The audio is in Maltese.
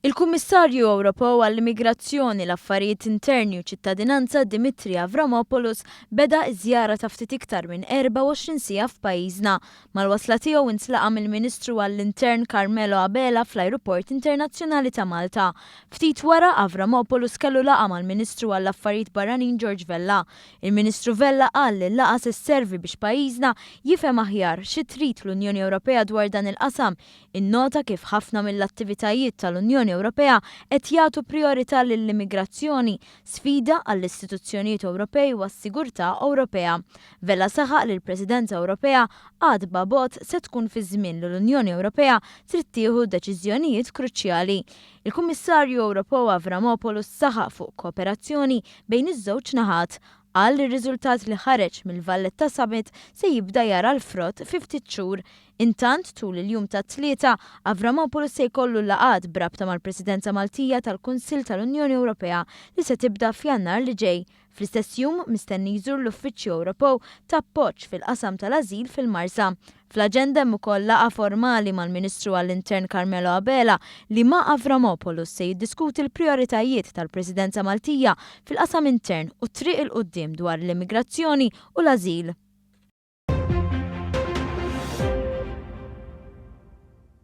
Il-Kummissarju Ewropew għall-Immigrazzjoni, l-Affarijiet Interni u Ċittadinanza Dimitri Avramopoulos beda ż-żjara ta' ftit iktar minn 24 siegħa f'pajjiżna. Mal-wasla tiegħu intlaqa' mill-Ministru għall-Intern Carmelo Abela fl-Ajruport Internazzjonali ta' Malta. Ftit wara, Avramopoulos kellu laqgħa mal-Ministru għall-Affarijiet Barranin George Vella. Il-Ministru Vella qal li l-laqgħa se sservi biex pajjiżna jifhem aħjar xi trid l-Unjoni Ewropea dwar dan il-qasam, innota kif ħafna mill-attivitajiet tal-Unjoni Ewropea qed jagħtu prijorità lill-immigrazzjoni, sfida għall-istituzzjonijiet Ewropej u għas-sigurtà Ewropea. Vella saħaq li l-Presidenza Ewropea għatba bogħod se tkun fi żmien li l-Unjoni Ewropea trid tieħu deċiżjonijiet kruċjali. Il-Kummissarju Ewropew Avramopoulos saħaq fuq kooperazzjoni bejn iż-żewġ naħat. Qal li r-riżultat li ħareġ mill-Valletta Summit se jibda jara l-frott fi ftit xhur. Intant, tul il-jum tat-Tlieta, Avramopoulos se jkollu laqgħat b'rabta mal-Presidenza Maltija tal-Kunsill tal-Unjoni Ewropea li se tibda f'Jannar li ġej. Fl-istess jum, mistenni jżur l-Uffiċċju Ewropew ta' Appoġġ fil-Qasam tal-Ażil fil-Marsa. Fl-aġenda hemm ukoll laqgħa formali mal-Ministru għall-Intern Carmelo Abela li ma' Avramopoulos se jiddiskuti l-prijoritajiet tal-Presidenza Maltija fil-qasam intern u t-triq 'il quddiem dwar l-immigrazzjoni u l-ażil.